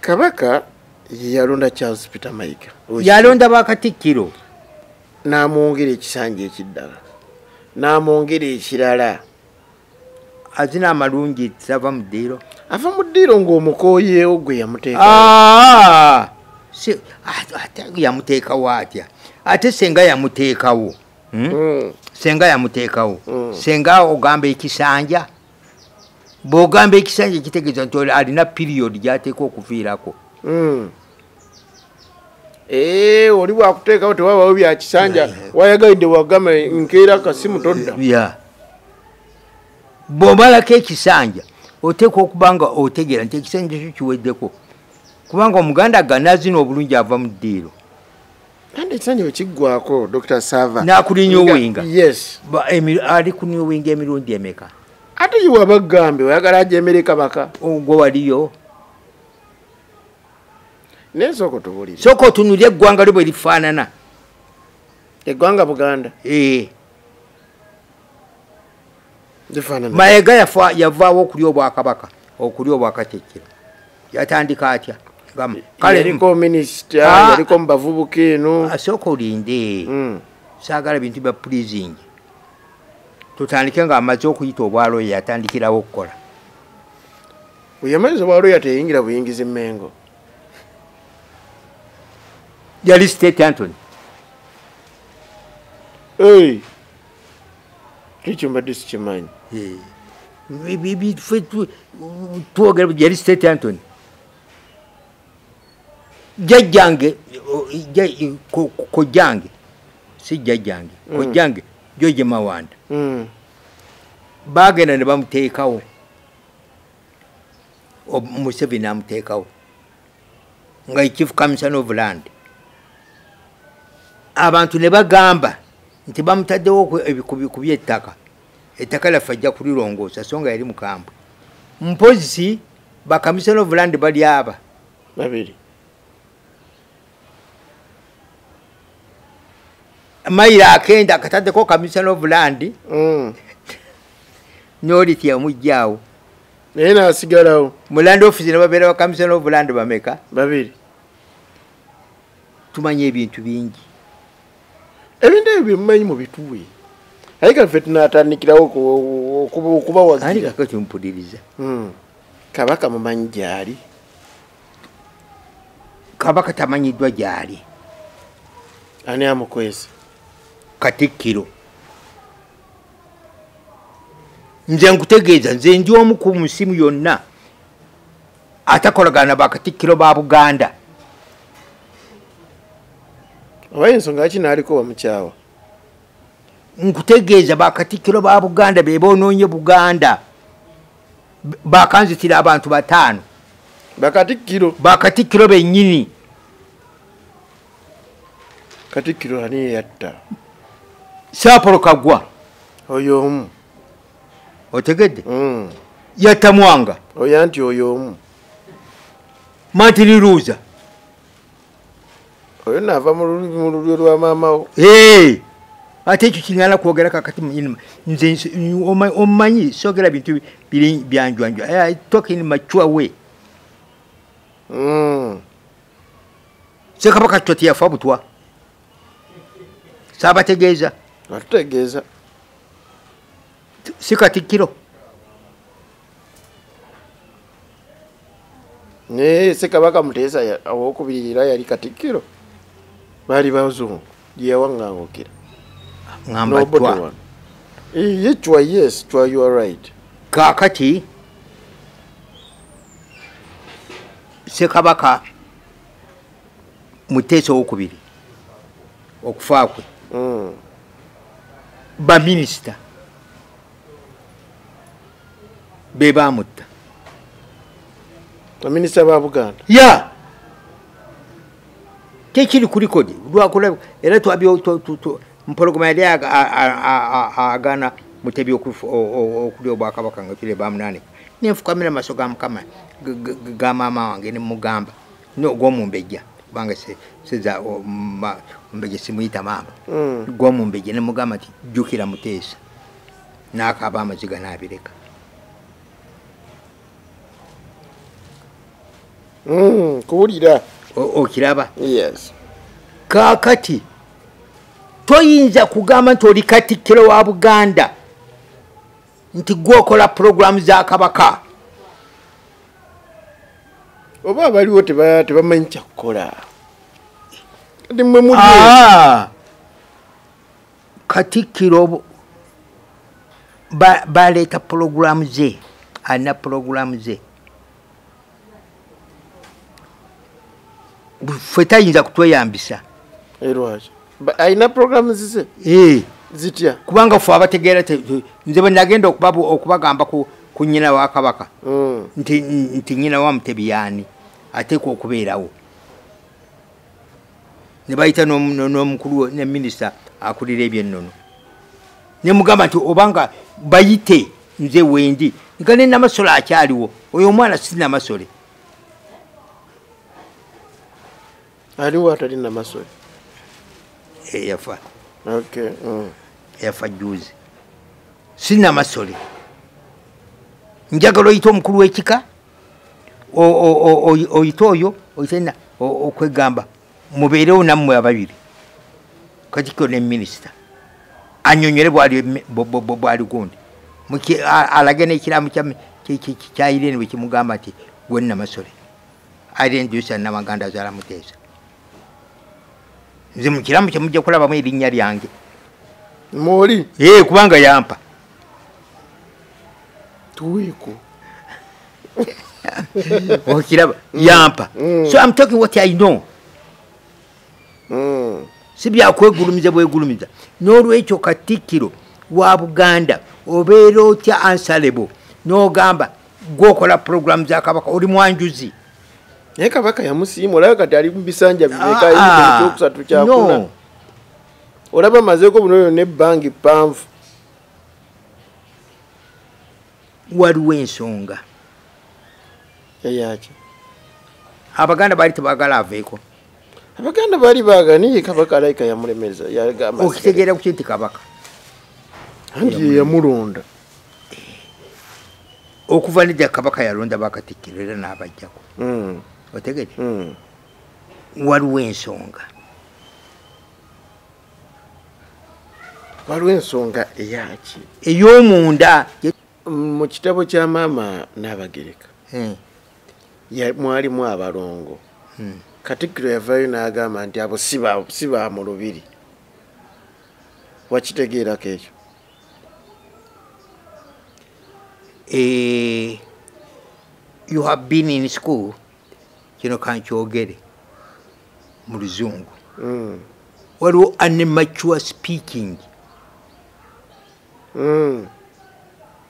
kabaka yeyalonda charles peter mayiga yalonda bakatikkiro n'amwongera ekisanja ekiddala n'amwongera ekirala azina amalungi ava mu ddiiro ava mu ddiiro ng'omukooyeewo gwe yamuteeka ah! ate yamuteekawo atya ate senga yamuteekawo hmm? hmm. senga yamuteekawo hmm. senga ogamba ekisanja bwogamba ekisanja kitegeeza nti alina period gyateeka okuviirako hmm. eh, oli wakuteekawo tewabawo byakisanja wayagalidde wagamba nkeera kasimu todda bwomalako ekisanja oteeka okuba nga otegeera nti ekisanja kyo kiweddeko kubanga omuganda ganazina obulungi ava mu ddiiro kandi ekisanyiwo kiggwako dr sava nakulinya owinga yes ali kunya owinga emirundi emeka ate yiwe abagambe oyagala ajemere kabaka ogwo oh, waliyo naye sooka otubulire sooka otunulye eggwanga lyo bwe lifaanana eggwanga buganda ee eh. mayega yafa yavaawo okuli obwakabaka okuli obwakakyekira yatandika atya yaliko minisita ah. yaliko mubavubuka eno asooka olinde hmm. saagala bintu bya pleasing tutandike nga amaze okuyita obwaloya yatandikirawo okukola weyamaliza obwaloya teyingira buyingiza emengo yali state antony ekyo mbadde sikimanyi twogera yali state antony jajjange kojjange si jajjange mm. kojjange joje mawanda mm. bagenda ne bamuteekawo museveni amuteekawo nga chief commissioner of land abantu ne bagamba nti bamutaddewo ku byettaka ettaka laffe ajja kulirongoosa so nga yali mukambwe mpozi bakamisona of land bali aba babiri mayiro akenda akataddeko kamisona of land mm. nolitya omujjaawo naye nasigalawo muland office nebabeera bakamisona obuland bameka babiri tumanya ebintu bingi ebintu ebyo byemumanyi mubituwe aye kafe tunatandikirawo okubawagirakati mpuliriza hmm. kabaka mumanyi gyali kabaka tamanyiddwa gyali ani amukwese katikkiro nze nkutegeeza nze ndi omu ku musimu yonna atakolagana bakatikkiro ba buganda oba ensonga yaki naaliko bamukyawa nkutegeeza bakatikkiro ba buganda be bonoonye buganda bakanzitira abantu bataano bakatikkiro bakatikkiro bennyini katikkiro ani yeyatta saapolo kagwa oyo omu otegedde mm. yatta mwanga oya nti oyo omu mantiri luuza oyo naava mu lulyo lwa maamawo ate ekyo kinyala kwogera kakati muinima nze omanyi sogera bintu biri byanjwanjwa talking mature way mm. sekabaka kitwa teyafa butwa sabategeeza atutegeeza si katikkiro naye sekabaka muteesa owokubiri era yali katikkiro baali bazungu gyeyawaŋŋangukira ngambatwa ye cwa yes cwa you are right kaakati sekabaka muteesa owokubiri okufa kwe mm. baminisita be bamutta baminisita ba buganda ya yeah. tekiri ku likodi lwakulaba era mpologoma yali agana mutebi okulya obwakabaka nga kire bamunane nenfukamira amaso ga mukama ga maama wange nemugamba gwomumbejja kubanga seza omumbejja simuyita maama mm. gwomumbejja nemugamba nti jjukira muteesa nakaba amaziga nabireka mm, kuwulira okiraba kakati toyinza kugamba nti oli katikkiro wa buganda nti gwokola pulogulaamu za kabaka oba abaliwo tebamanyi kyakukola ah! katikkiro baleeta pulogulaamu ze alina pulogulaamu ze ffe tayinza kutweyambisa eh, alina programu zize eh. zitya kubanga fe abategeera nze bwenagenda okubagamba ku nyina wa kabaka hmm. nti nyina wa mutebi yaani ateekwa okubeerawo ne bayita n'omukulu ne minisita akulira ebyennono ne mugamba nti obanga bayite nze wendi nga ne namasole akyaliwo oyo omwana si namasole aliwo atali namasole eyafa eh, okay mm. eyafa juzi sinamasole njagala oyita omukulu wekika oyite oyo oyitena okwegamba mubeerewo nammwe ababiri katikiro ne minisita anyonyole bwali gundi alage nekiramu kyayirene bwekimugamba nti gwenamasole arendusa namaganda azala muteesa nze mukiramu kyemujja kulabamu erinnya lyange moli kubanga yampa tuweeko okiraba yampa mm. so am talking what i know mm. si byakwegulumiza bwegulumiza n'olwekyo katikkiro wa buganda obeera otya ansalebo n'ogamba gwokola puroguramu za kabaka oli mwanjuzi naye kabaka yamusiima olaba kati ali mubisanja bimekaekyokusatu ah, ah. kyakuna olaba mazeko bunono nebbangi ppanvu waliwo ensonga eyaki abaganda baali tebagala aveeko abaganda baali baagala naye kabaka alaika yamulemeza okitegeera kuki nti kabaka anti yeyamulonda okuva nedda kabaka yalonda bakatikkiro era n'abajjako hmm. otegere hmm. waliwo ensonga waliwo ensonga eyaki ey'omunda mu kitabo kya maama n'abagereka hmm. mwalimu abalongo hmm. katikkiro yavayo n'agamba nti abo si ba mu lubiri wakitegeerako ekyo eh, you have been in school kino kankyogere mu luzungu mm. waliwo animature speaking mm.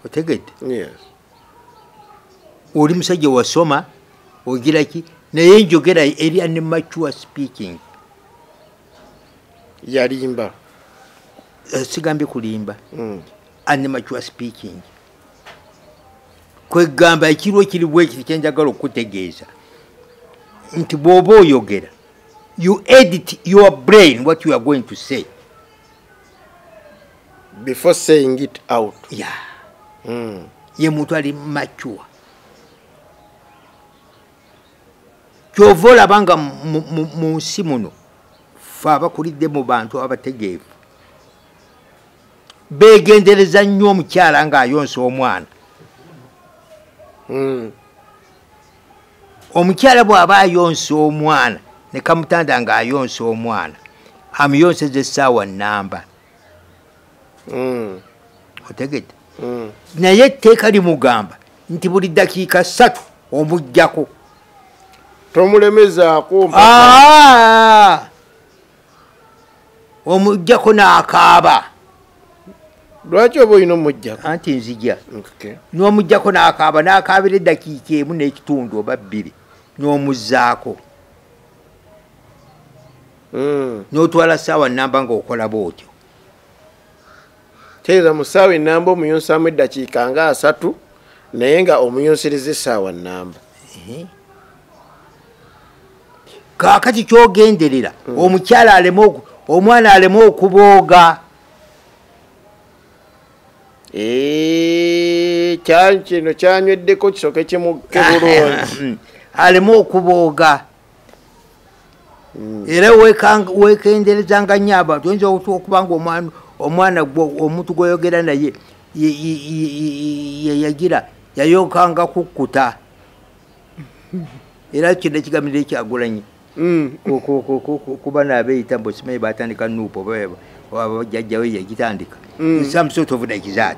otegedde yes. oli musajja wasoma ogira ki naye njogera eri animature speaking yalimba eh, sigambye kulimba mm. animature speaking kwegamba ekirwa ekiri bwekiti kyenjagala okukutegeeza nti bwoba oyogera you edit your brain what you are going to say before saying it out ya hmm. ye muntu ali mature kyova olaba nga mu nsi muno fe abakulidde mu bantu abategeevu begendereza nnyo omukyala ng'ayonsa omwana hmm. omukyala bw'aba ayonsa omwana ne kamutanda ng'ayonsa omwana amuyonseza essaawa nnamba hmm. otegedde hmm. naye etteeka limugamba nti buli ddakiika ssatu omujjako tomulemezaako ah! omujjako n'akaaba lwaki oba olina omujjako anti nzija n'omujjako n'akaaba n'akaabira eddakiika emu n'ekitundu oba bbiri n'omuzzaako hmm. n'otwala ssaawa nnamba ng'okolaba otyo teeza mu ssaawa ennamba omuyonsaamu eddakiika nga asatu naye nga omuyonsiriza essaawa nnamba kakati kyogenderera hmm. omukyala aleme omwana aleme okubooga eh, kino kyanyweddeko kisoke kimukebulungi aleme okubooga hmm. era wekenderezanga nyo abantu oyinza okuba nga omwana gwo omuntu gwoyogera naye yeyagira yayokanga kukkuta era kino ekigamiro ekyagulanyi hmm. kuba nabeyita mbu simanyi batandika nuupu oba jajjawe yagitandika hmm. some sort of like that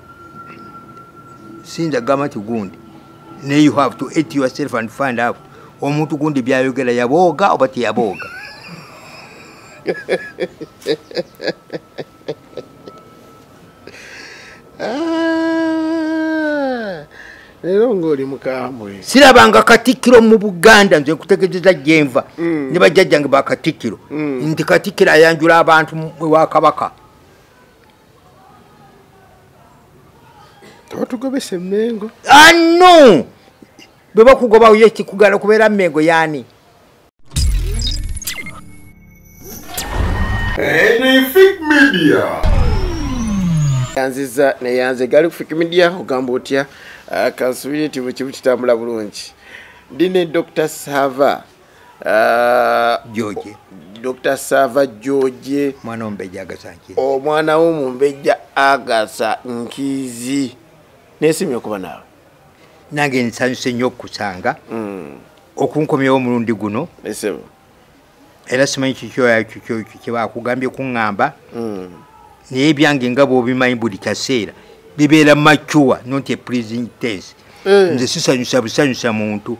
sinza gamba nti gundi naye you have to eat yourself and find out omuntu gundi byayogera yabooga oba teyabooga ah, leero ngaoli mukambwe sirabanga katikkiro mu buganda nze nkutegezeza gyenva mm. ne bajjajjange bakatikkiro mm. nti katikkiro ayanjula abantu ewa kabaka tebatugobesa emengo anu ah, bwe bakugobawo ye kikugala okubeera mengo yaani yanziza neyanze gali kufik media ogamba otya ah, kansubire tibukibu kitambula bulungi ndi ne dr sava Ah, George. Dr. Sava George. Mwana ombeja agasa nkizi. O mwana wo mumbeja agasa nkizi. Nesimye kuba nawe. Nange nsanyuse nnyo okusanga. Mm. Okunkomyewo omulundi guno. Esebo. Era simanyi kikyoya kikyo kye bakugambye kungamba. Mm. Naye byange nga bw'obimanyi buli kaseera bibeera macuwa not a pleasing tense. Eh. nze sisanyusa busanyusa muntu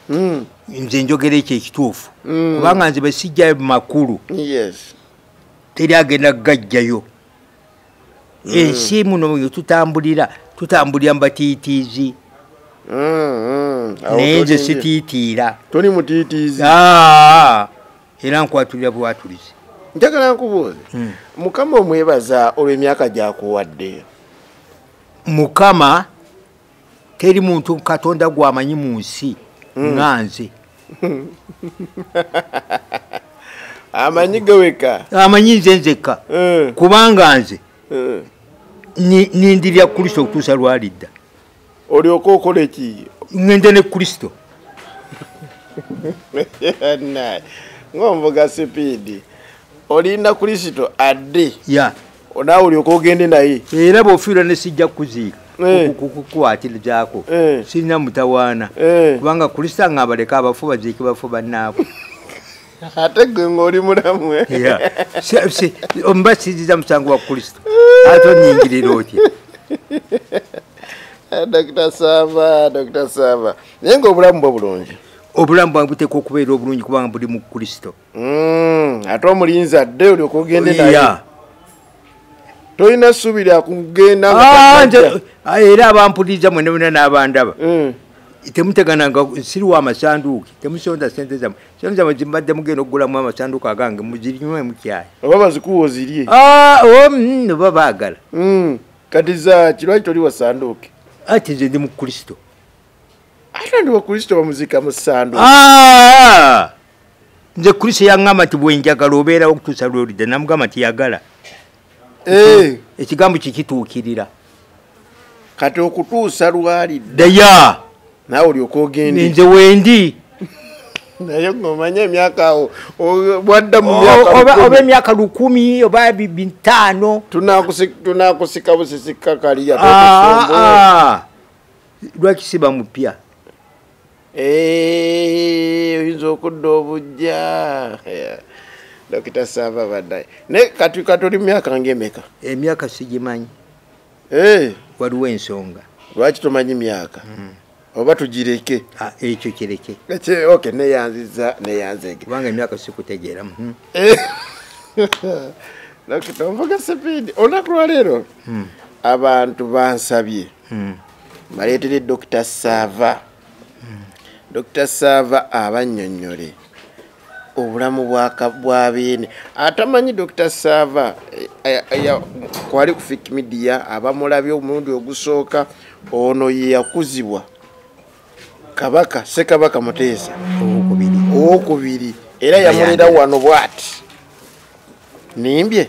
hmm. nze njogera ekyo ekituufu hmm. kubanga nze besijja makulu teri agenda kugajjayo hmm. ensi muno tutambulira tutambulira mubatiitiizi naye nze sitiitiira ah. era nkwatulira bwatulize njagala nkubuuze hmm. mukama omwebaza olw'emyaka gyakuwadde mukama teri muntu katonda gwamanyi mu nsi hmm. nga nze amanyi geweka amanyi nze nzekka hmm. kubanga nze nindirira kristo okutuusa lwalidda olyoka okola eki ŋŋenda ne kristo ng'omvuga sipiidi olinda kristo adde ya naawe olyoka ogende naye era bw'ofiirwa ne sijja kukuziika Eh. kukwatirizaako eh. sirina mutawaana eh. kubanga kulisanga abaleka abafu baziiki bafu bannaabwe ate gwe ng'oli mulamu eh? omuba kiziza musango wa kristo ate onyingirira otya ah, dokita sava dokita sava naye ngaobulamu bwe bulungi obulamu bwange buteekwa okubeera obulungi kubanga buli mu kristo hmm, ate omulinzi adde oli okugende naye tolina ssuubi lyakugenda ah, ah, era abampuliriza mwenabona n'abandaba hmm. temutegananga siri wa masanduuki temusonda sente zamwe Kyanza mwe mbadde mugenda okugulamu amasanduuko agange muzinywe mukyayi. Oba bazikuwa ozirye. Ah, oh, mm, oba baagala. Mm. Kati za kirwaki toli wasanduuke? Ati nze ndi mu Kristo. Ate ndi wa Kristo bamuzika mu sanduuke. Ah! Nze Kristo yang'amba nti bwe njagala obeerawo okutuusa lw'olidda namugamba nti yagala. ekigambo kikituukirira kati okutuusa lwali daya nawe olyoka ogende nze wendi naye ngomanye emyaka awo bwadda muoba emyaka lukumi oba bitaano tunakusika busisikakaliya ah, ah. lwaki siba mupya Eh, oyinza okudda obujja dokita sava badaye naye katuli myaka ngaemeka emyaka sigimanyi eh. waliwo ensonga lwaki tomanyi myaka hmm. oba tugireke ah, ekyo kireke ok neyanziza neyanzege kubanga emyaka sikutegeeramu hmm. eh. dokita onvuga sipiidi olunaku lwaleero hmm. abantu bansabye hmm. baleetere dr saava hmm. dr saava abannyonnyole obulamu bwa beene atamanyi dr saava eh, eh, eh, kwali ku fik midia abamulabye omulundi ogusooka ono yeyakuzibwa kabaka sekabaka muteesa owokubiri era yamulira wano bwati nimbye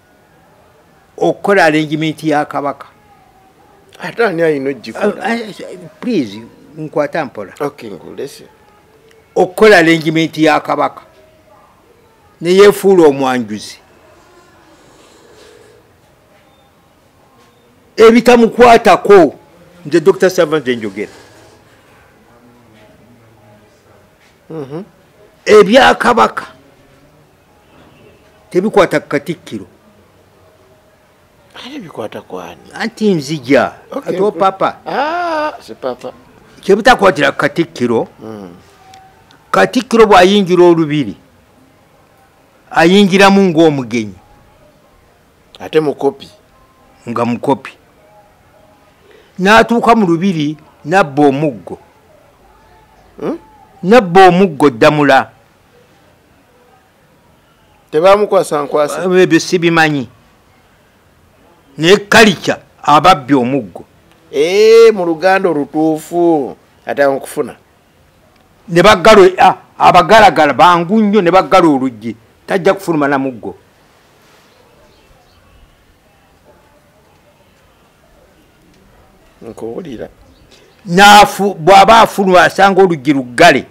okukola arrangement ya kabaka ate ani alina ogikola eh, eh, please nkwata mpola okukola arrangement ya kabaka neyefuula omwanjuzi ebitamukwatako nze dr savant enjogera mhm. ebyakabaka tebikwata ku katikkiro ate bikwata kwani anti nzija okay. ati opapa ah, sipapa kyebitakwatira ku katikkiro mm. katikkiro bw'ayingira olubiri ayingiramu ng'omugenyi ate mukopi nga mukopi n'atuuka mu lubiri nabba omuggo hmm? nabba omuggo ddamula tebamukwasa nkwasa uh, ebyo sibimanyi naye kalica ababbi omuggo ee eh, mu luganda olutuufu ate nkufuna ne bagalo ah, abagalagala bangu nnyo ne bagala oluggi tajja kufuluma na muggo nkuwulira naafu bw'aba afuluma asanga oluggi luggale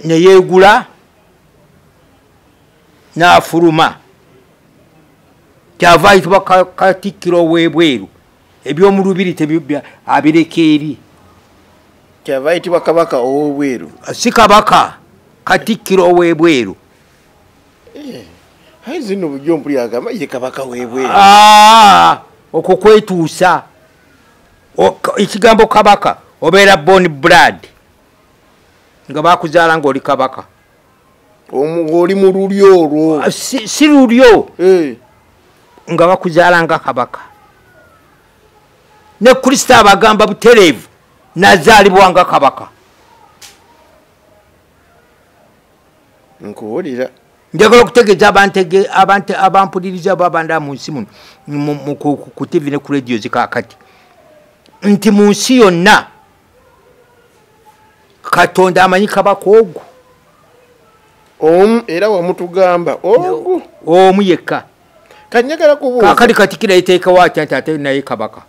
neyeegula ne, ne n'afuluma kyava ayitibwa katikkiro ow'ebweru eby'omu lubiri abireka eri kyava ayitibwa kabaka ow'obweru si kabaka katikkiro ow'ebweru eh, ayi zino bujjo mpuli agamba ye kabaka w'ebweru ah, okwo kwetuusa ekigambo kabaka obeera bon brad nga bakuzaala ngaoli kabaka oli mu lulyo olwo ah, si lulyo eh. nga bakuzaala nga kabaka ne kristo abagamba butereevu nazaalibwa nga kabaka nkuwulira njagala okutegeeza abantu abantu abampuliriza abo abanda mu nsi muno ku tivi ne ku radio zikakati nti mu nsi yonna katonda amanyi kabaka ogwo omu era wamutugamba ogwo omu yekka kanyagala kubuuza kakati katikira eteekawo atya nti ate naye kabaka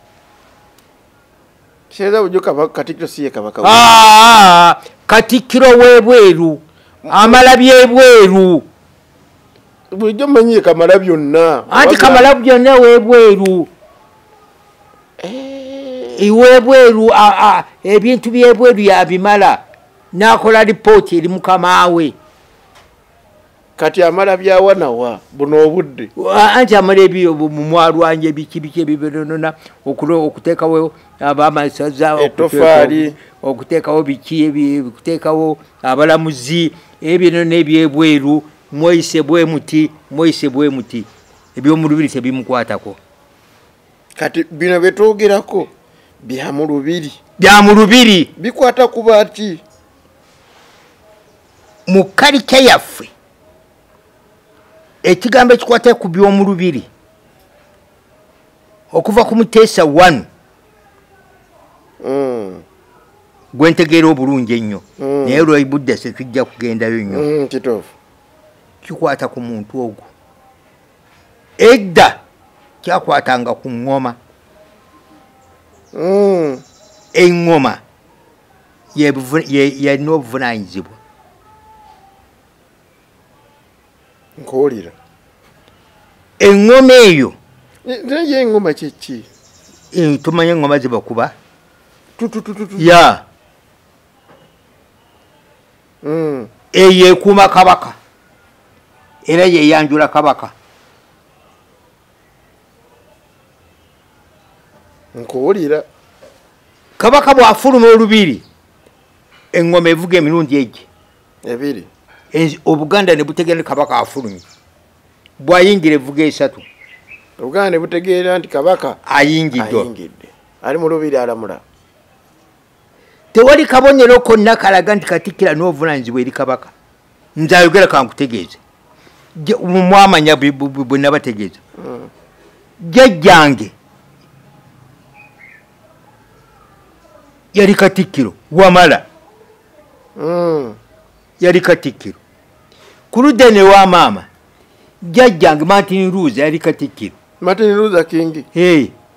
Kireza bujo kabaka katikiro siye kabaka. Ah, katikiro webweru. Amala byebweru. Bujo manyi kamala byonna. Anti kamala byonna webweru. Eh. Iwebweru a a ebintu byebweru ya bimala. Nakola report eri mukamawe. kati amala byawa nawa buno obudde anti amala ebyo mumwalwanja ebikibiki ebibinonona okuteekawo abamasaza etofaali okuteekawo biki okuteekawo abalamuzi ebinona ebyebweru mweyise bwemuti mweyise bwemuti ebyomulubiri tebimukwatako kati bino byetwogerako byamulubiri byamulubiri bikwata kubaki mu kalikya yaffe ekigambo ekikwata ku by'omulubiri okuva ku muteesa one mm. gwentegeera obulungi ennyo mm. naye lwebudde setujja kugendayo nnyo mm, kikwata ku muntu ogwo edda kyakwatanga ku ŋŋoma mm. eŋŋoma yalina obuvunanyizibwa nkuwulira eŋŋoma eyo naye eŋŋoma kyeki eh, tumanye eŋŋoma zibakuba ya hmm. eyo ekuuma kabaka era yeyanjula kabaka nkuwulira kabaka bw'afuluma olubiri eŋŋoma evuga emirundi egye ebiri obuganda ne butegeera kabaka afulumye bw'ayingira evuga esatu obuganda ne butegeera nti kabaka ayingidde ali mu lubiri alamula tewali kabonero konna kalaga nti katikkira n'obuvunaanyizibwa eri kabaka nze ayogera kankutegeeze mwamanya bwe nabategeeza hmm. jajjange yali katikkiro wamala hmm. yali katikkiro ku ludda ne wa maama jajjange martin ruza yali katikkiro martin ruza kingi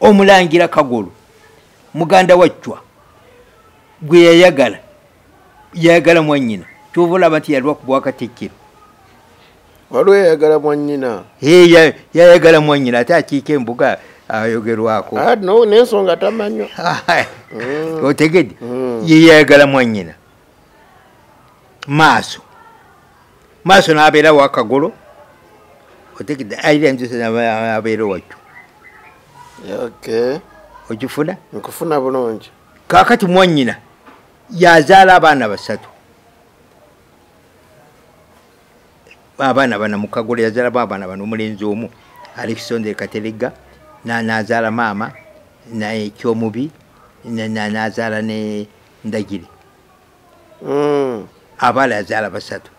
omulangira kagolo muganda wa ccwa gwe yayagala yayagala mwanyina kyova olaba nti yalwa ku bwakatikkiro waliwo yayagala mwanyina yayagala mwanyina ate akiika embuga ayogerwako ah, nensonga tamanywa mm. otegede mm. yeyayagala mwanyina maaso maaso n'abeera wakagolo otegedde aira enjusa abeera wakyo okifuna nkufuna bulungi kakati mwanyina yazaala abaana basatu abaana bana mukagolo yazalamu abaana bana omulenzi omu alexander katelega nazaala maama naye kyomubi nazaala ne ndagire mm. abaala yazaala basatu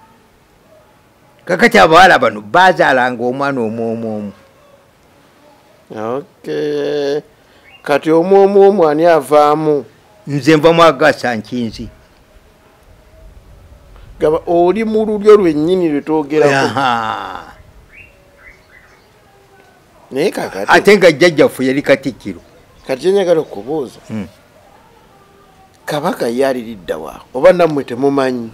kakati abawala bano bazaalanga omwana omwomwomu okay. kati omwomwomu ani avaamu nze nva mwagasa nkinzi gaba oli mu lulyo lwennyini lwetwogerako naye kakati ate nga jjajjaffe yali katikkiro kati kyenyagala okubuuza hmm. kabaka ye aliriddawa oba nammwe temumanyi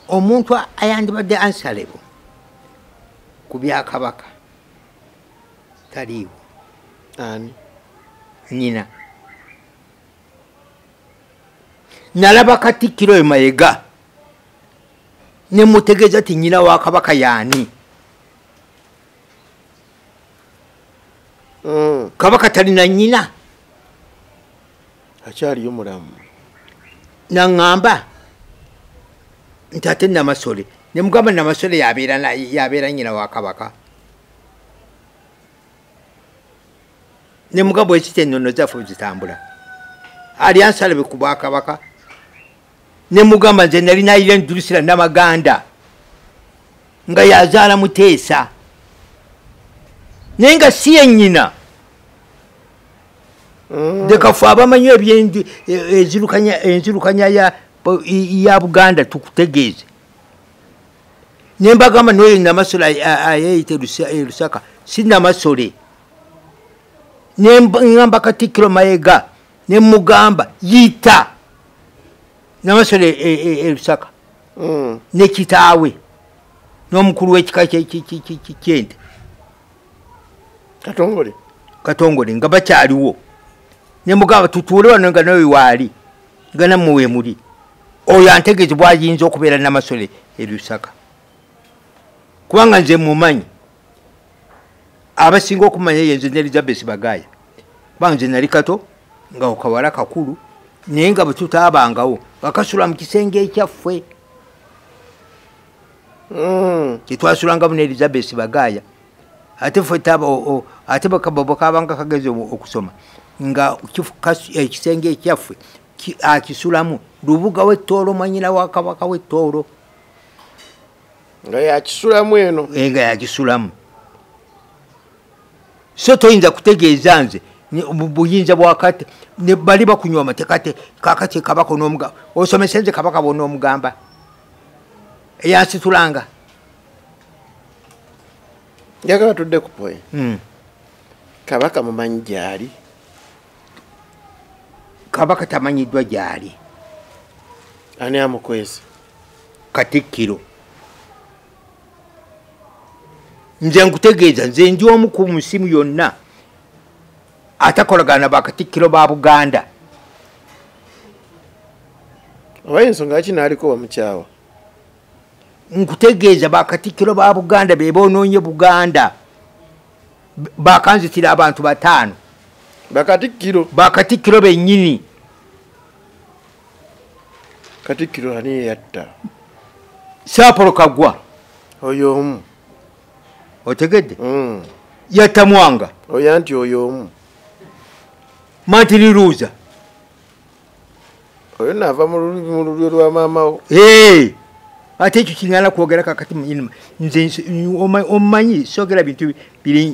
omuntu ayandibadde ansalebo ku byakabaka taliiwo ani nyina nalaba katikkiro oyo mayega ne mutegeeza ti nyina wa kabaka yaani mm. kabaka talina nyina akyaliyo mulamu naŋŋamba nti ate namasole ne mugamba namasole yabeera nyina wa kabaka ne mugamba ekiti ennono zaffe zitambula alyansalabe ku bwakabaka ne mugamba nze nali nayira endulusira namaganda nga yazaala muteesa naye nga si yenyina mm. dekafu abamanyi ebyenju e, enzirukanya ya buganda tukutegeeze nembagamba noyo namasole ayeyita e lusaka si namasole nengamba katikkiro mayega ne mugamba yita namasole erusaka e, e, e, mm. ne kitaawe n'omukulu w'ekika kyente katongole katongole nga bakyaliwo ne mugamba tutuule wano nga nawe waali nga nammwe we muli oyo antegeezi bwayinza okubeera namasole erusaka kubanga nze mumanyi abasinga okumanya eyo nze ne elizabeth bagaya kubanga nze nali kato nga okawala kakulu naye nga bwetutaabangawo nga kasula mu kisenge ekyaffe mm. tetwasulangamu ne elizabeth bagaya ate ate bwekabanga kagezi okusoma nga ekisenge eh, ekyaffe akisulamu lubuga wettoolo mwanyina wa kabaka wettoolo nga yakisulamu eno eh, nga yakisulamu so toyinza kutegeeza nze buyinza bwakati bali bakunywa amatekate kakati kabaka onomugamba osomese nze kabaka bonomugamba eyansitulanga njagala tudde ku point hmm. kabaka mumanyi gyali kabaka tamanyiddwa gyali ani amukwese katikkiro nze nkutegeeza nze ndi omu ku musimu yonna atakolagana bakatikkiro ba buganda oba ensonga yaki naaliko bamukyawa nkutegeeza bakatikkiro ba buganda be bonoonye buganda bakanzitira abantu bataano bakatikkiro bakatikkiro bennyini katikkiro ani yeyatta saapolo kagwa oyo omu otegedde mm. yatta mwanga oya nti oyo omu mantiriruuza oyo naava mu lulyo lwa maamawo ate ekyo kiŋana kwogera kakati muinima nze omanyi sogera bintu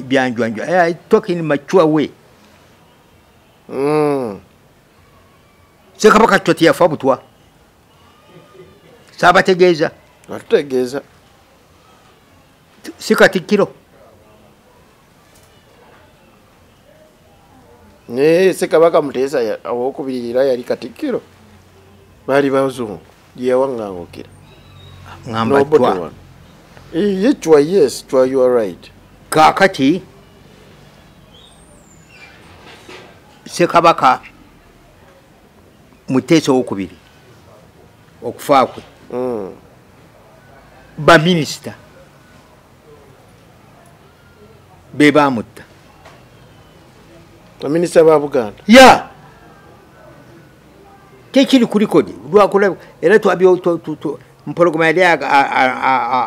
byanjwanjwa eh, talking mature way mm. sekabaka kitwa teyafa butwa sabategeeza atutegeeza si katikkiro naye sekabaka muteesa owokubiri era yali katikkiro baali bazungu yewangangukira ngamba twa eh, ye chwa yes chwa you are right kakati sekabaka muteesa owokubiri okufa kwe mm. baminisita be bamutta baminisita ba buganda ya yeah. tekiri ku likodi lwakulaba era mpologoma yali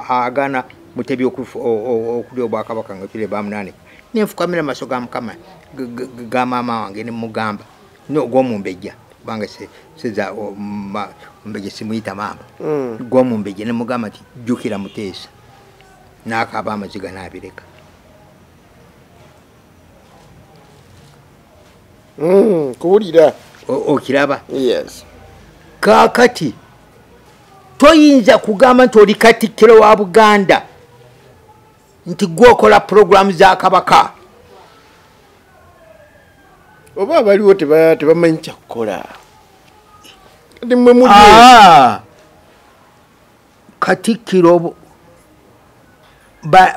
agana mutebi okulya obwakabaka nga kire bamunanika nenfukamira maso ga mukama ga maama wange nemugamba gwomumbejja kubanga seza ombejja simuyita maama mm. gwomumbejja nemugamba nti jukira muteesa nakaaba amaziga nabireka hmm, kuwulira okiraba yes kakati toyinza kugamba nti oli katikkiro wa buganda nti gwokola puroguramu za kabaka oba abaliwo tebamanyi kyakukola ah. katikkiro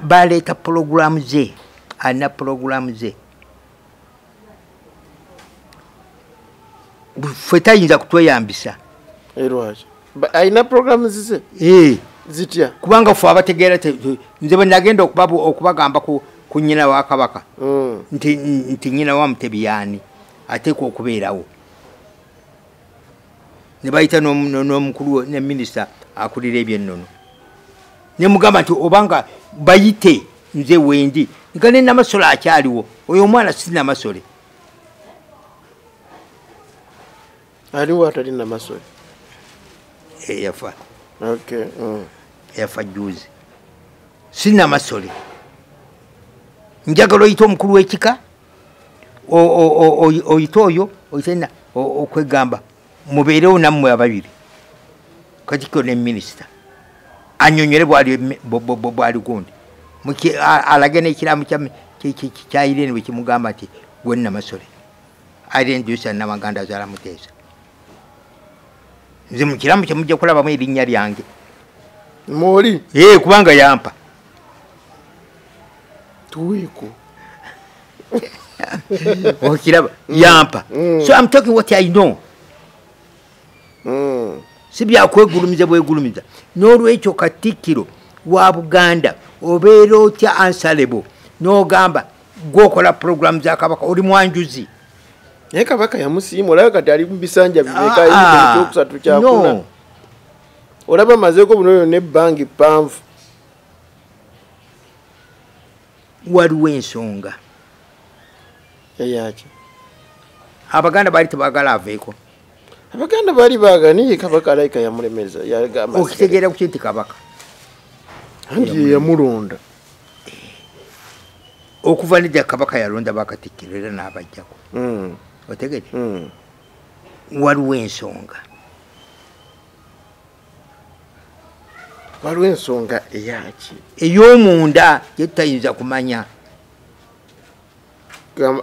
baleeta pulogulaamu ze alina pulogulaamu ze ffe tayinza kutweyambisa alina pulogulaamu zize eh. zitya kubanga fe abategeera nze bwe nagenda okubagamba ku nyina wa kabaka mm. nti nyina wa mutebi yaani ateekwa okubeerawo ne bayita n'omukulu ne minisita akulira ebyennono ne mugamba nti obanga bayite nze wendi nga ne namasole akyaliwo oyo omwana si namasole aliwo atali namasole eyafa eh, mm. eyafa juzi si namasole njagala oyita omukulu w'ekika oyite oyo oyitena okwegamba mubeerewo nammwe ababiri katikiro ne minisita anyonyole bwali gundi alage nekiramu kyayirene bwekimugamba nti gwenamasole irene jusa namaganda azala muteesa nze mukiramu kyemujja kulabamu erinnya lyange moli kubanga yampa tuweeko okiraba mm. yampa mm. so am talking what i know mm. si byakwegulumiza bwegulumiza n'olwekyo katikkiro wa buganda obeera otya ansalebo n'ogamba gwokola puroguramu za kabaka oli mwanjuzi naye kabaka yamusiima olaba kati ali mubisanja bibekaekyokusatu ah, ah. kyakuna olaba mazeeko bunoyo nebbanga eppanvu waliwo ensonga eyaki abaganda baali tebagala aveeko abaganda baali baagala naye kabaka alaika yamulemeza yagamba okitegeera kuki nti kabaka anti yeyamulonda okuva nedda kabaka yalonda bakatikkiro era n'abajjako hmm. otegede hmm. waliwo ensonga waliwo ensonga eyaki ey'omunda gye tutayinza kumanya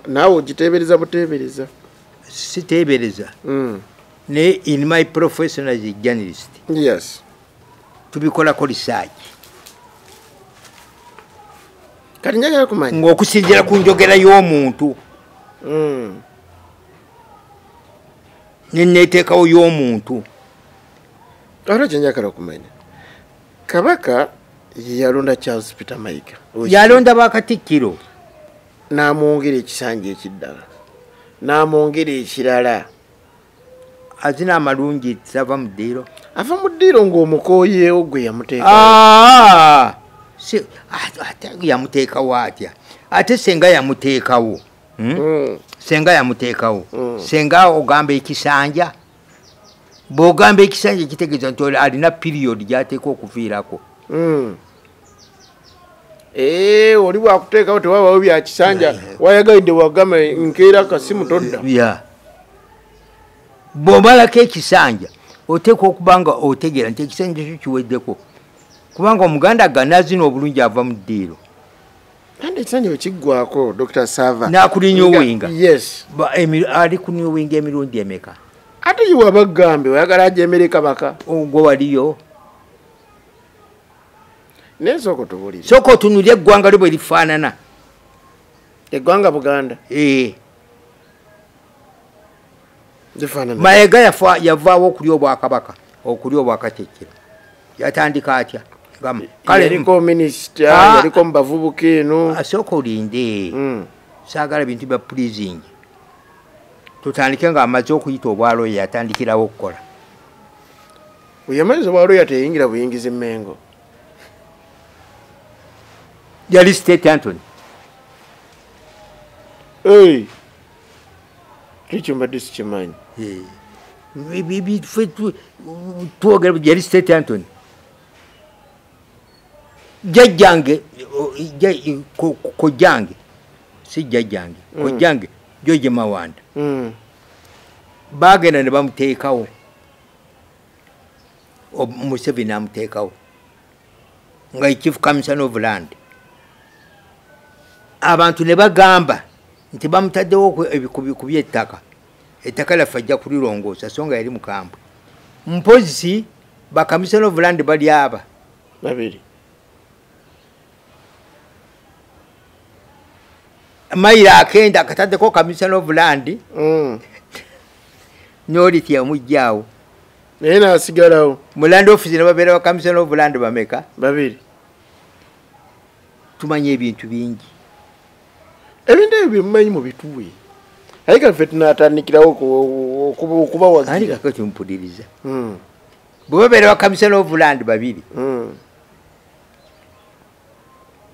naawe ogiteebereza buteebereza siteebereza hmm. naye in my professional as a journalist yes tubikolako risaaki kati njagala kumanya ng'okusinziira ku njogera y'omuntu hmm. neneteekawo y'omuntu ate kyenjagala okumanya kabaka yeyalonda charles peter mayiga yalonda bakatikkiro n'amwongera ekisanja ekiddala n'amwongera ekirala azina amalungi zava mu ddiiro ava mu ddiiro ng'omukooyeewo gwe yamuteeka ah! ah, yamuteekawo atya ate senga yamuteekawo hmm? Hmm. senga yamuteekawo hmm. senga ogamba ekisanja bwogamba ekisanja ekitegeeza nti alina piriyodi gyateeka okuviirako eh, oli bwakuteekawo tewabawo byakisanja wayagalidde wagamba nkeera kasimu todda bwomalako ekisanja oteekwa okuba nga otegeera nti ekisanja kyo kiweddeko kubanga omuganda ganazina obulungi ava mu ddiiro kandi ekisanja wekiggwako dr sava nakulinya owinga yes ali kunya owinga emirundi emeka ate iwe abagambe oyagala aja emere kabaka ogwo waliyo naye soko tubulire soko tunulye eggwanga lyo bwe lifaanana eggwanga buganda ee eh. mayega yavaawo okulya obwakabaka okulya obwakakyekiro yatandika atya kalemubavubuka ah. eno asooka ah, olinde hmm. saagala bintu bya prizing tutandike nga amaze okuyita obwaloya yatandikirawo okukola oyamaliza obwaloya teyingira buyingiza emengo yali state antony ekyo mbadde sikimanyi twogera yali state antony jajjange kojjange si jajjange mm. kojjange joje mawanda mm. bagenda ne bamuteekawo museveni amuteekawo nga chief commission of land abantu ne bagamba nti bamutaddewo ku byettaka ettaka lyaffe ajja kulirongoosa so nga yali mukambwe mpozi bakamisona ovulandi bali aba babiri mayiro akenda akataddeko kamisona ovulandi mm. noliti yamugjawo naye nasigalawo mulandi ofisi nebabeera bakamisona ovulandi bameka babiri tumanya ebintu bingi ebintu ebyo byemumanyi mubituwe aye ka ffe tunatandikirawo okubawagiakokimpuliriza hmm. bwebabeera bakamisana ovuland babiri hmm.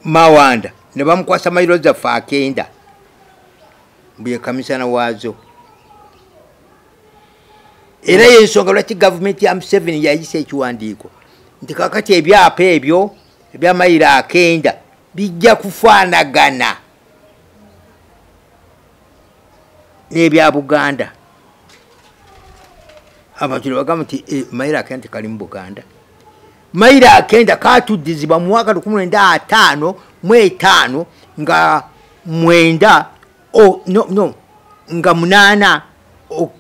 mawanda ne bamukwasa mayiro zaffe akenda mbuye kamisana waazo era yensonga lwaki gavumenti ya museveni yayisa ekiwandiiko nti kakati ebyapa ebyo ebyamayiro akenda bijja kufaanagana n'ebya buganda abantu nebagamba nti eh, mayiro akenda tekali mu buganda mayiro akenda katuddizibwa mu mwaka lukumi lwenda ataano mu etaano nga mwenda oh, no, no, nga munaana oh,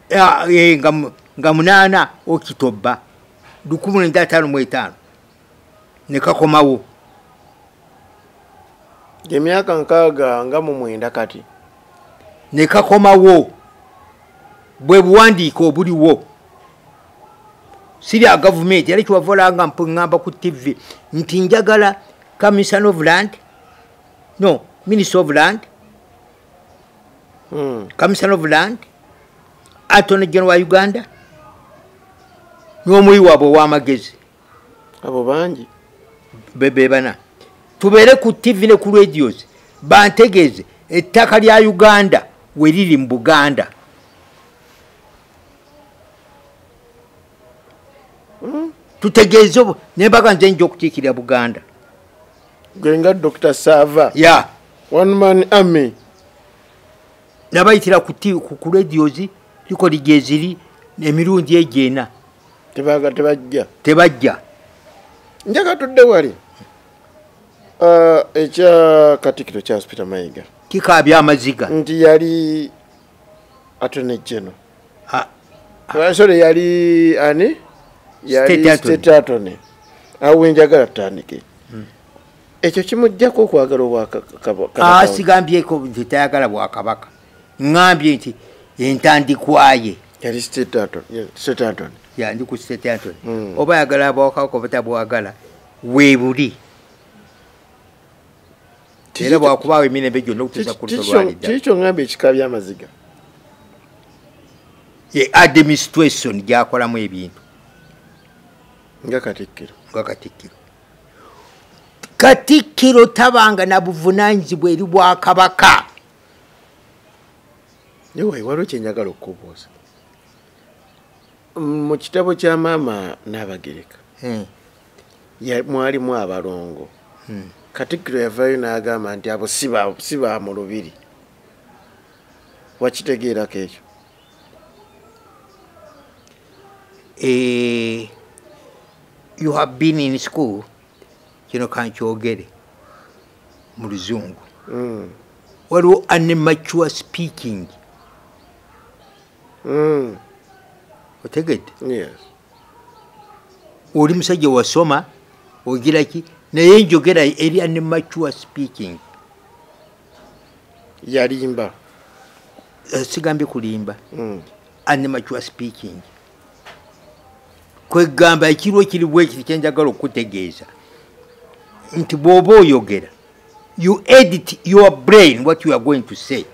eh, nga, nga munaana okitobba lukumi lwenda ataano mu etaano ne kakomawo emyaka nkaaga nga mu mwenda kati ne kakomawo bwe buwandiiko obuliwo sirya gavumenti era kiwavolanga mpuŋŋamba ku tv nti njagala commission of land no minister of land hmm. commission of land atone general wa uganda n'omuyi waabwe ow'amagezi abo bangi bebana tubeere ku tv ne ku radios bantegeeze ettaka lya uganda we liri mu buganda hmm? tutegeeze obo nembaga nze nja okukiikirira buganda gwenga dr sava ya one man army nabayitira ku radios likoli gyeziri emirundi egyo ena tebaga tebajja tebajja njaga tudde wali uh, ekya katikiro kya spita mayiga kikabya amaziga nti yali atone jeno sore yali ani yali state atone awo wenjagala tutandike hmm. ekyo kimujjako okwagala obwakasigambyeko ah, nti tayagala bwakabaka ŋambye nti entandikwaye yali setanton yandi ku setanton hmm. oba ayagala abawakako batabwagala webuli era bwakubaawo emirembe gyonna okutuusa ku lusolwalidakikyo ngamba ekika byamaziga ye administration gyakolamu ebintu nga katikkiro nga katikkiro katikkiro tabanga na buvunanyizibwa eri bwakabaka Anyway, waliwo kyenjagala okukubuuza mu kitabo kya maama Naabagereka hmm. mwalimu abalongo hmm. katikkiro yavaayo n'agamba nti abo si ba mu lubiri wakitegeerako ekyo eh, you have been in school kino kankyogere mu luzungu mm. waliwo animature speaking mm. otegedde yes. oli musajja wasoma ogira ki naye njogera eri animature speaking yalimba eh, sigambye kulimba mm. animature speaking kwegamba ekirwa ekiri bwekiti kyenjagala okukutegeeza nti bwoba oyogera you edit your brain what you are going to say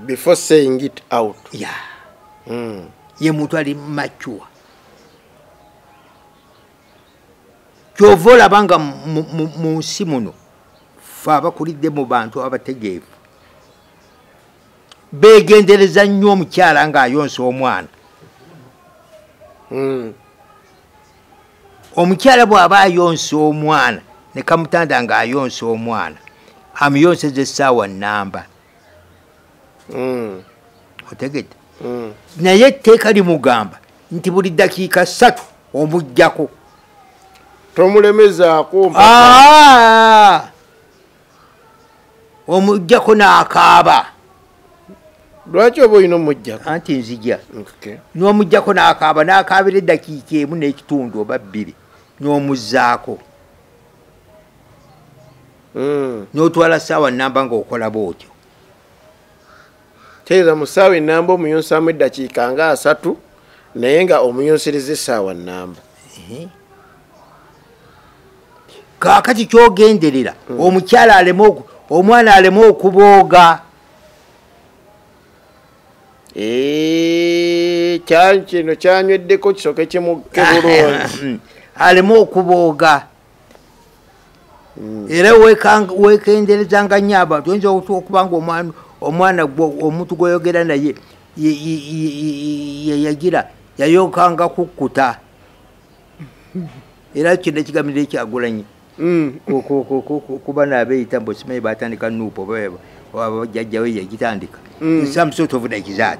before saying it out ya mm. ye muntu ali mature kyova olaba nga mu nsi muno fe abakulidde mu bantu abategeevu begendereza nnyo omukyala ng'ayonsa omwana hmm. omukyala bw'aba ayonsa omwana ne kamutanda ng'ayonsa omwana amuyonseza essaawa nnamba hmm. otegedde hmm. naye etteeka limugamba nti buli ddakiika ssatu omujjako tomulemezaako ah! omujjako n'akaaba lwaki oba olina omujjako anti nzija n'omujjako n'akaaba n'akaabira eddakiika emu n'ekitundu oba bbiri n'omuzzaako hmm. n'otwala ssaawa nnamba ng'okola bwotyo teeza mu ssaawa ennamba omuyunsaamu eddakiika nga asatu naye nga omuyunsiriza essaawa nnamba kakati kyogenderera hmm. omukyala aleme omwana aleme okubooga eh, kino kyanyweddeko kisoke kimukebulungi aleme okubooga hmm. era wekenderezanga nnyo abantu oyinza okuba nga omwana gwo omuntu gwoyogera naye yeyagira yayokanga kukkuta era kino ekigamiro ekyagulanyi hmm. kuba nabeyita mbu simanyi batandika nuupu oba jajjawe yagitandika hmm. some sort of like that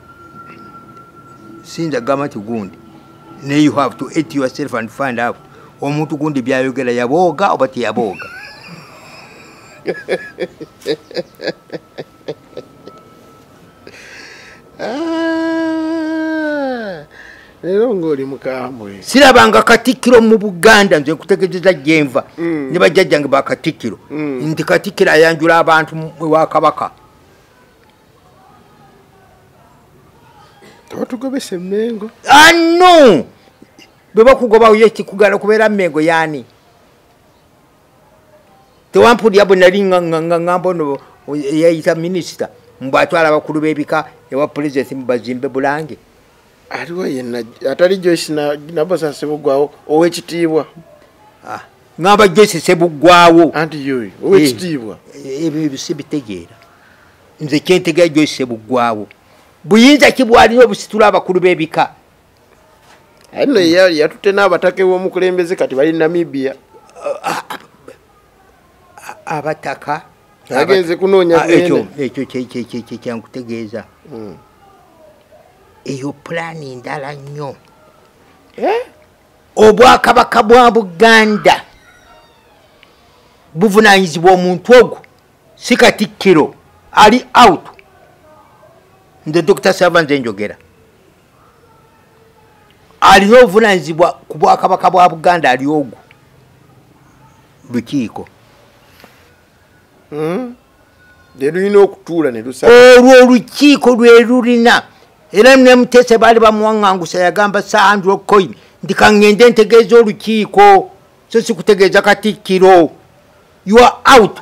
sinza gamba nti gundi naye you have to eat yourself and find out omuntu gundi byayogera yabooga oba teyabooga ah, leero ngaoli mukambwe sirabanga katikkiro mu buganda nze nkutegezeza gyenva mm. ne bajjajjange bakatikkiro mm. nti katikkiro ayanjula abantu ewa kabaka tebatugobesa emengo anu bwebakugobawo ye kikugala kubeera mengo yani tewampulira bwe nali ngamba ono yayita minisita mbu atwala abakulu b'ebika ewa pulezidenti mubazimbe bulange aliwo yenna atali joyce nabosa sebuggwawo owekitiibwa ah, ngamba joyce sebuggwawo anti yoyo owekitiibwa eh, ebyo ebyo sibitegeera nze kyentegera joyce sebuggwawo buyinza ki bwalina obusitula abakulu b'ebika aye no yatutte n'abataka ew'omukulembeze kati bali namibia ah, ah, abataka agenze kunoonya ah, ekyo ekyo kyekyankutegeeza hmm. eyo pulaani ndala nnyo eh? obwakabaka bwa buganda buvunanyizibwa omuntu ogwo si katikkiro ali out nze dr savanze njogera alina obuvunanyizibwa ku bwakabaka bwa buganda ali ogwo lukiiko hmm? nelulina okutuula olwo olukiiko lwelulina era nemutese baali bamuwaŋangusa yagamba sahandrocoin nti kaŋŋende ntegeeza olukiiko so sikutegeeza katikkiro ua out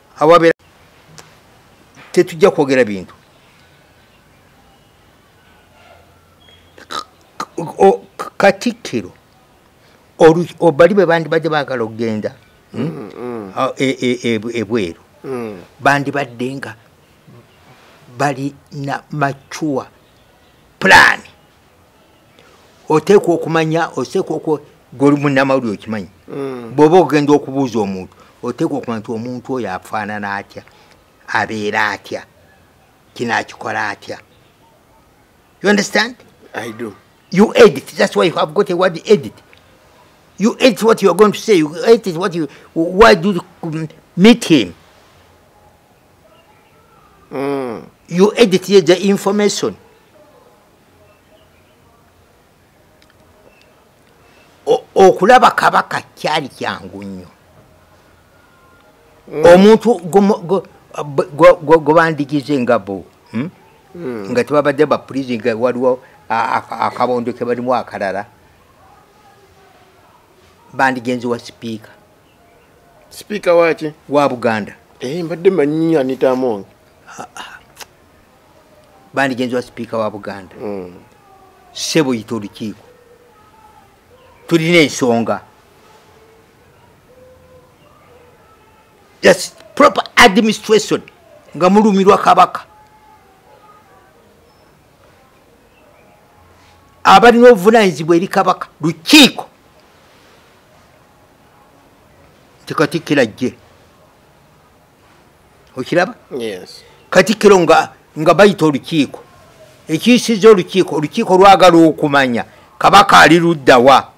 awabeera tetujja kwogera bintu katikkiro obali bwe bandibadde baagala okugenda hmm? mm, mm. E, e, e, ebweru mm. bandibadde nga balina macuwa pulaani oteekwa okumanya oteekwa oku gwemunamawulire okimanyi mm. bwoba ogenda okubuuza omuntu oteekwa okumanya nti omuntu oyo afaanana atya abeera atya kino akikola atya you understand i do you edit that's why you have got a word edit you edit what you are going to say you edit what you why do you meet him mm. you edit ye the information okulaba kabaka kyali kyangu nnyo mm. omuntu gwebandigize nga bo hmm? mm. nga tebabadde bapurizi nga waliwo akabondo kebalimu akalala bandigenzi wa sipiika sipiika waki wa buganda eh, mbadde manyi anita among ah, ah. bandi genzi wa sipiika wa buganda mm. sebo yita olukiiko tulina ensonga just proper administration nga mulumirwa kabaka abalina obuvunanyizibwa eri kabaka lukiiko nti katikkiro ajje okiraba katikkiro nga nga bayita olukiiko ekiyisiza olukiiko olukiiko lwagala okumanya kabaka ali luddawa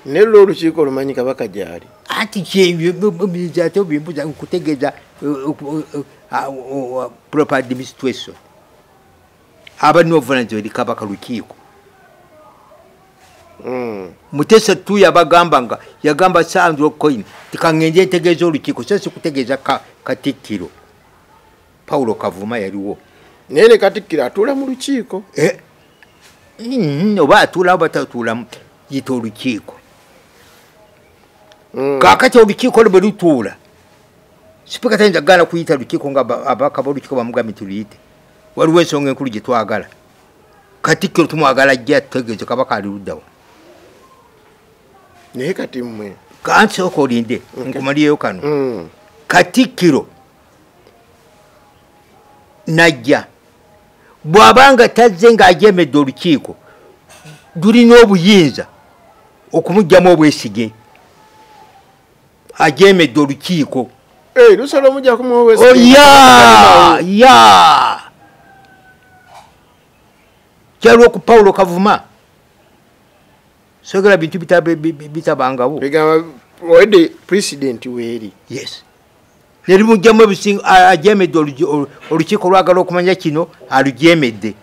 naye lwo olukiiko lumanyi kabaka gyali anti kyate obimbuza nkutegeeza uh, uh, uh, proper administration abalina obuvunaanyizibwa eri kabaka lukiiko hmm. mutesa tu yabagamba nga yagamba sandro coin tikangenje ntegeeza olukiiko so sikutegeeza katikkiro paulo kavuma yaliwo naye ne katikkiro atuula mu lukiiko eh. hmm, oba atuulawo batatuulamu yita olukiiko hmm. kakati olukiiko lwe lutuula sipika tayinza kugala kuyita lukiiko nga abaka bolukiiko bamugambye tuluyite waliwo ensonga enkulu gye twagala katikkiro tumwagala ajja tutegeeze kabaka ali luddawa naye kati mmwe kansooka olinde nkumaliyeyo kano mm. katikkiro najja bw'aba nga tazze ng'ajemedde olukiiko lulina obuyinza okumugyamu obwesige ajeemedde olukiiko eh, lusala omujja kumuwoya oh, ya kyaliwo ku pawulo kavuma sogera bintu bitabangawo owedde president weeri yes nerimujjamu ebisinga ajemedde olukiiko olwagala okumanya kino alujemedde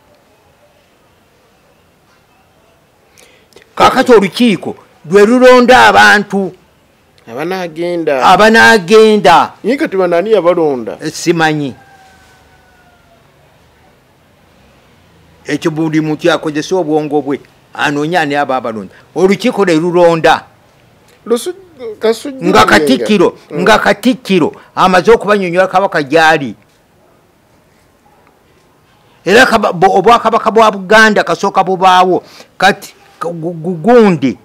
kakati olukiiko lwe lulonda abantu abanagenda abanagenda naye kati banani yabalonda eh, simanyi ekyo buli muntu yakozesa obwongo bwe anoonya ani aba abalonda olukiiko lwe lulonda nga katikkiro nga katikkiro amaze okubanyonyola kabaka gyali era obwakabaka bwa buganda kasooka bubaawo kati gugundi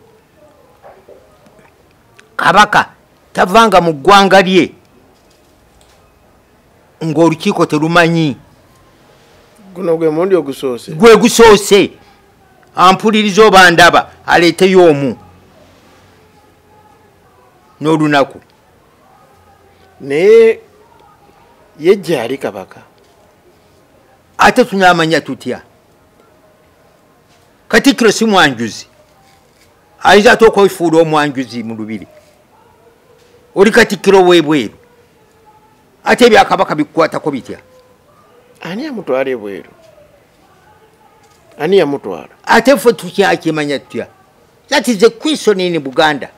kabaka tavanga mu ggwanga lye ng'olukiiko telumanyi guno gwe mundi ogusoose gwe gusoose ampuliriza oba ndaba aleeteyo omu n'olunaku naye ye gyali kabaka ate tunamanya tutya katikkiro si mwanjuzi ayinza ate okwefuula omwanjuzi mu lubiri oli katikkiro webweru ate ebyakabaka bikukwatako bitya ani amutwala ebweru ani yamutwala ate fe tukyakimanya tutya that is a question in buganda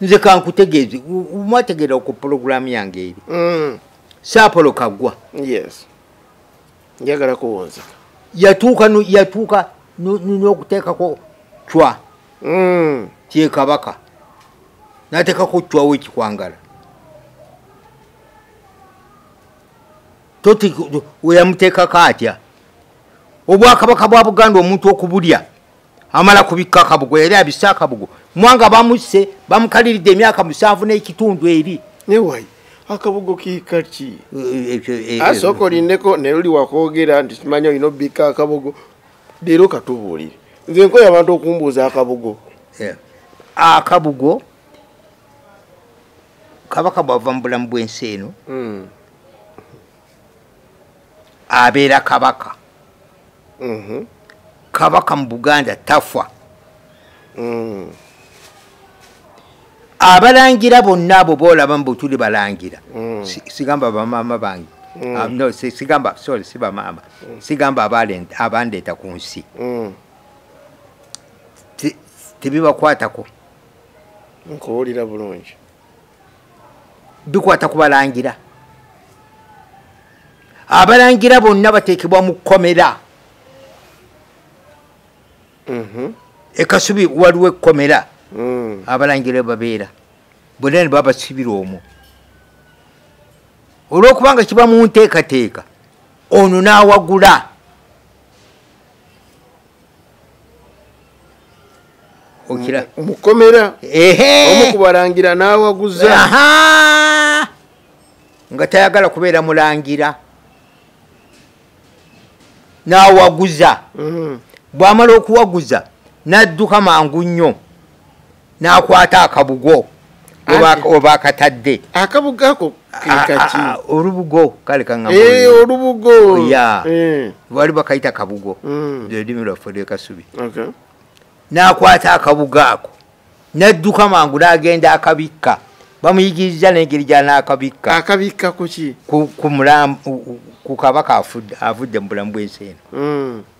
nze kankutegeeze mwategeera ku pulogulaamu yange eri mm. saapolo kagwa njagala kuwunza yatuuka yatuuka n'okuteekako cwa mm. kyekabaka nateekako cwawo ekikwangala toti weyamuteekako atya obwakabaka bwa buganda omuntu okubulya amala kubikka akabugo yali abise akabugo mwanga bamusse bamukaliridde emyaka musanvu n'ekitundu eri newayi akabugo kikaki eh, eh, eh, asooka olindeko naye oli wakwogera nti kimanya olina obikka akabugo leero katubuulire nze nkoyo abantu okumbuuza akabugo akabugo kabaka bwava mu bulamu bw'ensi eno hmm. abeera kabaka mhm. kabaka mu buganda tafa mm. abalangira bonna abo boolaba mbu tuli balangira mm. sigamba bamaama bange mm. ah, no sigamba sorry si bamaama sigamba abandeeta ku nsi tebibakwatako nkuwulira bulungi bikwata ku balangira abalangira bonna bateekebwa mu kkomera mhm. ekasubi waliwo ekkomera mm. abalangira babeera bonna ne babasibira omwo olwokubanga kiba mu nteekateeka ono n'awagula okira mukomera omu kubalangira n'awaguza nga tayagala kubeera mulangira n'awaguza mm-hmm. bw'amala okuwaguza n'adduka mangu nnyo n'akwata akabugo oba akatadde akabugo ako kekaki olubugo kale kaŋae olubugo ya bali eh. bakayita kabugo mm. lulimi lwaffe lwekasubi n'akwata akabugo ako n'adduka mangu n'agenda akabikka bamuyigiriza nengeri gyanaakabikka akabikka kuki ku kabaka avudde mu bulamu bwensi eno mm.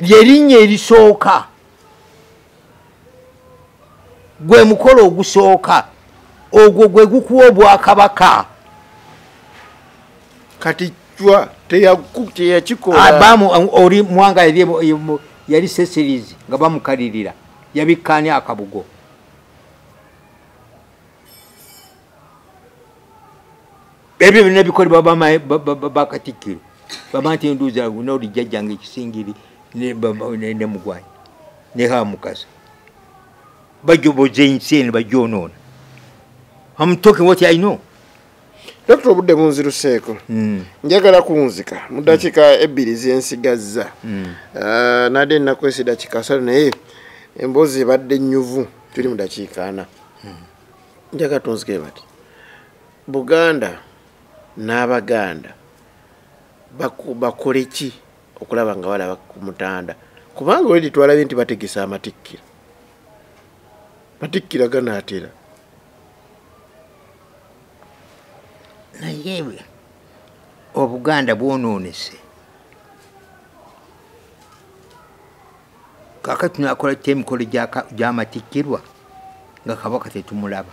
lyerinnya erisooka gwe mukolo ogusooka ogwo gwe gukuwa obwakabaka kati cwa teyakikolabamu ah, oli mwanga yali sesirizi nga bamukalirira yabikkaani akabugo ebyo byonna bikolebwa bakatikkiro bamati enduuza noli jjajjanga ekisingiri ne mugwanyi ne hamukasa bajoboza ensi eno bajonoona am talking what i know dokita obudde bunziruseeko hmm. njagala kunzika mu dakiika hmm. ebbiri zensigazza hmm. ah, nade ennaku esi dakiika asatu naye emboozi ebadde nyuvu tuli mu dakiika ana njagala tunzike bati buganda n'abaganda bakole ki okulaba nga balaba ku mutanda kubanga oledi twalabye nti bategesa amatikkira matikkira ganaatera naye obuganda bwonoonese kakati tunakola kyo emikolo gy'amatikkirwa nga kabaka tetumulaba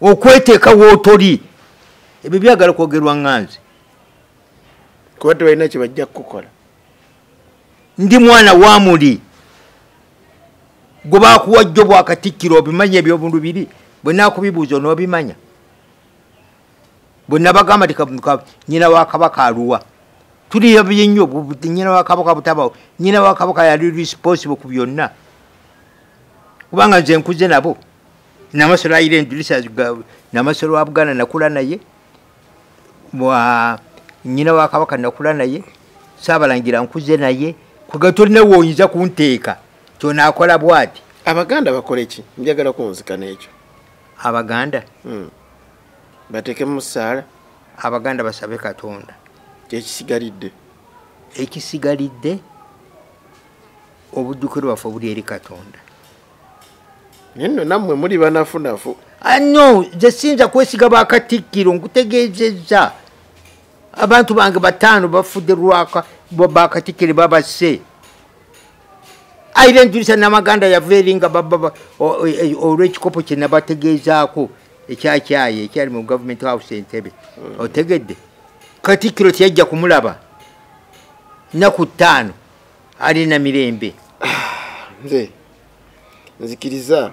okweteeka wootoli ebyo byagala kwogerwa nganzi kuba tebalina kyebajja kukukola ndi mwana wa muli gwe bakuwa jjo bwakatikkiro obimanya ebyobulubiri bwe nakubibuuza onoobimanya bwe nabagamba ti nyina wa kabaka aluwa tuli yabye nnyo nyina wa kabaka butabawo nyina wa kabaka yali responsible ku byonna kubanga nze nkuze nabo namasolo ayira endirisa namasolo wa buganda nakula naye nyina wa kabaka nakula naye saabalangira nkuze naye kuga tolina woyinza kunteeka kyonakola bwati abaganda bakoleki njagala kunzika nekyo abaganda hmm. batekemu musaala abaganda basabe katonda kyekisigalidde ekisigalidde obujjukiro bwaffe obuli eri katonda naye nno nammwe muli banafunafu ano nze siyinza kwesiga bakatikkiro nkutegeezezza abantu bange bataano bafudde lwaka bakatikkiro babase aire njulisa namaganda yava eri nga bababa e, olwekikopo kyenabategeezaako ekyakyaye ekyali mu government house entebe mm. otegedde katikiro teyajja kumulaba naku ttaano alina mirembe nze nzikiriza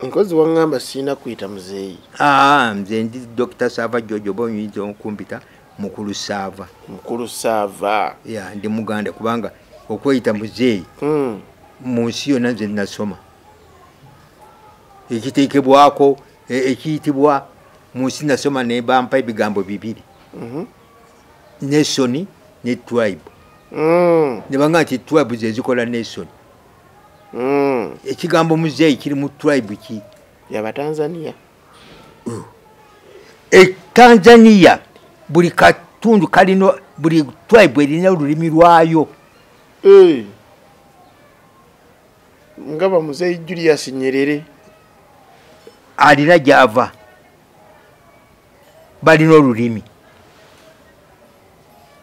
nkozi wangamba sirina kuyita muzeeyi ah, nze ndi dr sava jojo oba oyinza okumpita mukulu sava mukulu sava ya ndi muganda kubanga okweyita muzeeyi hmm. mu nsi yonna nze nasoma ekiteekebwako e, ekiyitibwa mu nsi nasoma ne bampa ebigambo bibiri mhm. nesoni ne tribe hmm. ne banga nti tribe zezikola nesoni mm. ekigambo muzeeyi kiri mu tribe ki yabatanzania mm. e tanzania buli katundu kalino buli tribe erina olulimi lwayo eh. nga bamuzeeyi julius nyerere alina gyava balina olulimi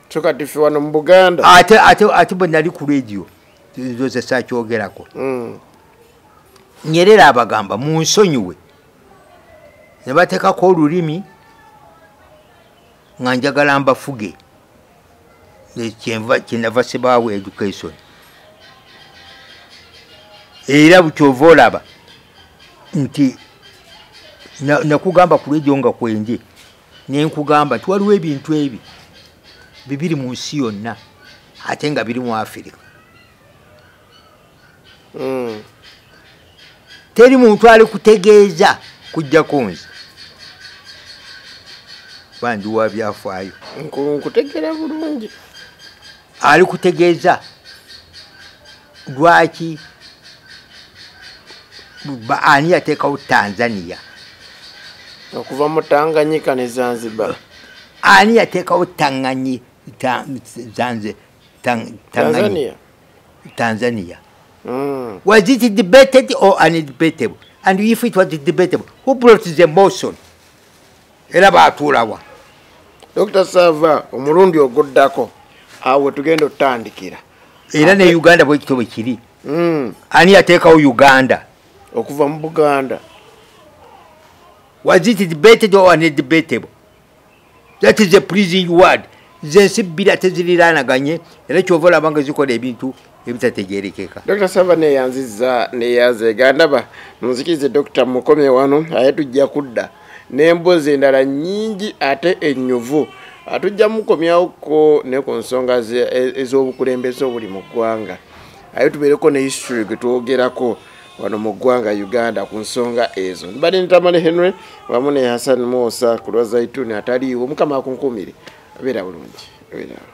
kyoka tife wano mu buganda ate ate ate bwenali ku radio nze sakyogerako mm. nyerera abagamba munsonyiwe nebatekako olulimi nga njagala mbafuge kyenava sibaawo education era bukyova olaba nti nakugamba kulwejo nga kwenje nenkugamba nti waliwo ebintu ebi bibiri mu nsi yonna ate nga biri mu afirika hmm. teri muntu ali kutegeeza kujjako nze bandi wa byafaayo nkutegera bulungi ali kutegeeza lwaki ani yateekawo tanzania okuva mu tanganyika ne zanzibar ani yateekawo tanganyi zanze tanzania tanzania mm. was it debated or undebatable and if it was debatable who brought the motion era baatuulawa dr sava omulundi oguddako awo wetugenda otutandikira era ne uganda bwekito bwe kiri hmm. ani yateekawo uganda okuva mu buganda was it debated or undebatable that is a pleasing word zensi bbira teziriraanaganye era kyova olabanga zikola ebintu ebitategerekeka dr savana eyanziza neyazeega ndaba munzikirize dr mukomye wano aye tujja kudda n'embozi endala nyingi ate enyuvu atujja mukomyawoko ne ku nsonga e-, ez'obukulembeze obuli mu ggwanga aye tubeereko ne history gwe twogerako wano mu ggwanga uganda ku nsonga ezo mbadde nitamale henry wamu ne hassan musa ku lwa zaituni ataliiwo mukama akunkumire abeera bulungi abeerawo